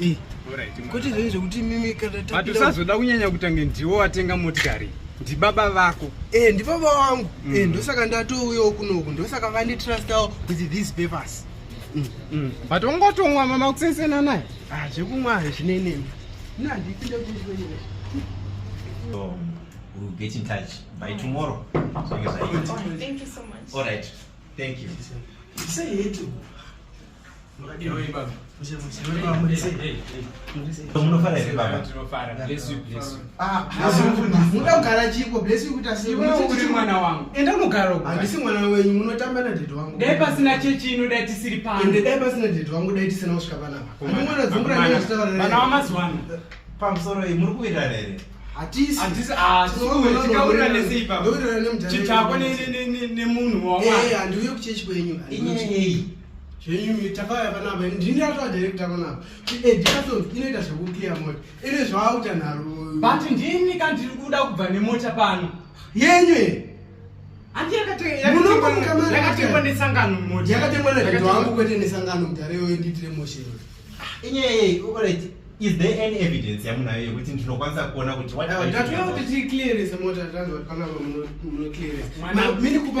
Eh, kuti zvinhu zvekuti mimi kana but usazoda kunyanya kutange ndiwo watenga motikari ndibaba vako eh ndibaba wangu mm. eh ndosaka ndatouyawo kunoku ndosaka vandi trustawo with these papers mm. mm. but ungotomwa mama kusesena naye ah zvekumwa hazvinenemi nandipinde kuiwenyewe so we'll get in touch by tomorrow so you say thank you so much all right thank you say it pasina chechi ino dai tisiri pande dai pasina dede wangu dai tisina kusvika panapavana wamazuva ano pamusoro iyi muri kuirara here hatisitikaurira nemuchitako nemunhu waandiuye kuchechi kwenyu zvenyumi takauya panapa ndini ratova director panapa edicasons inoita zvekuclear mota ine zvaakuta nharo but ndini ka ndiri kuda kubva nemota pano yenyu ye andiyakatengwa nesangano mota yakatengwa naedo wangu kwete nesangano mudhara iyoyo ndiitire moshe inyeye orit is there any evidence yamunayo yekuti ndinokwanisa kuona kuti tatoda kuti ticlearese mota tanzwa kuti panapa munoclearese mini kupa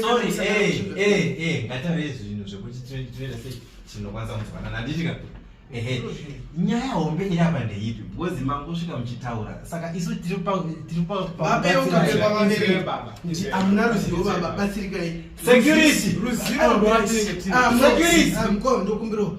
sorry eh eh eh ngatave zvinhu zvekuti tinoita sei tinokwanisa kunzwanana handiti ka ehe nyaya hombe iri apa ndeipi because mangosvika muchitaura saka isu tiri paamuna ruzivo baba batsirikai security ruzivo ah, ah, ndokumbirawo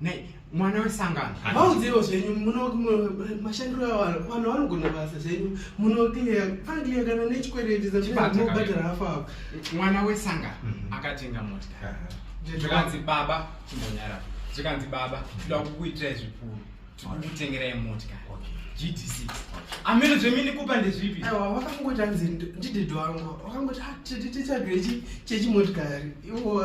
Nei, mwana wesangano vaudziro zvenyu mashandiro avanhu vanhu vanogona basa zvenyu munokliya pakliya kana nechikwereti zatinobhadhara hafu avo mwana wesangano mhm. akatenga mota zvikanzi baba chimbonyara zvikanzi baba tinoda kukuitirai zvikuru tikukutengerai mota gdc amene zvemini kupa ndezvipi aiwa wakangoti anzi ndidhidho wangu wakangoti ah, tichadwe chechimotikari iwo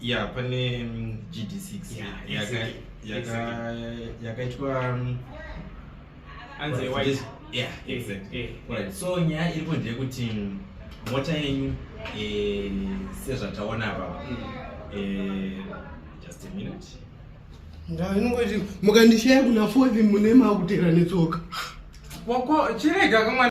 ya pane mm, gd6 Yeah, yaka- exactly, yaka- exactly. yakaitwa mm, Anze Right, white. just- yeah, Eh, exactly. eh, Right, so nyaya iripo ndeyekuti mm, mota yenyu eh, sezvataona apa Mm. eh, just a minute Ndava inongoti mukandishaya kuna fourth mune makutera netsoka. Wako chirega kamwana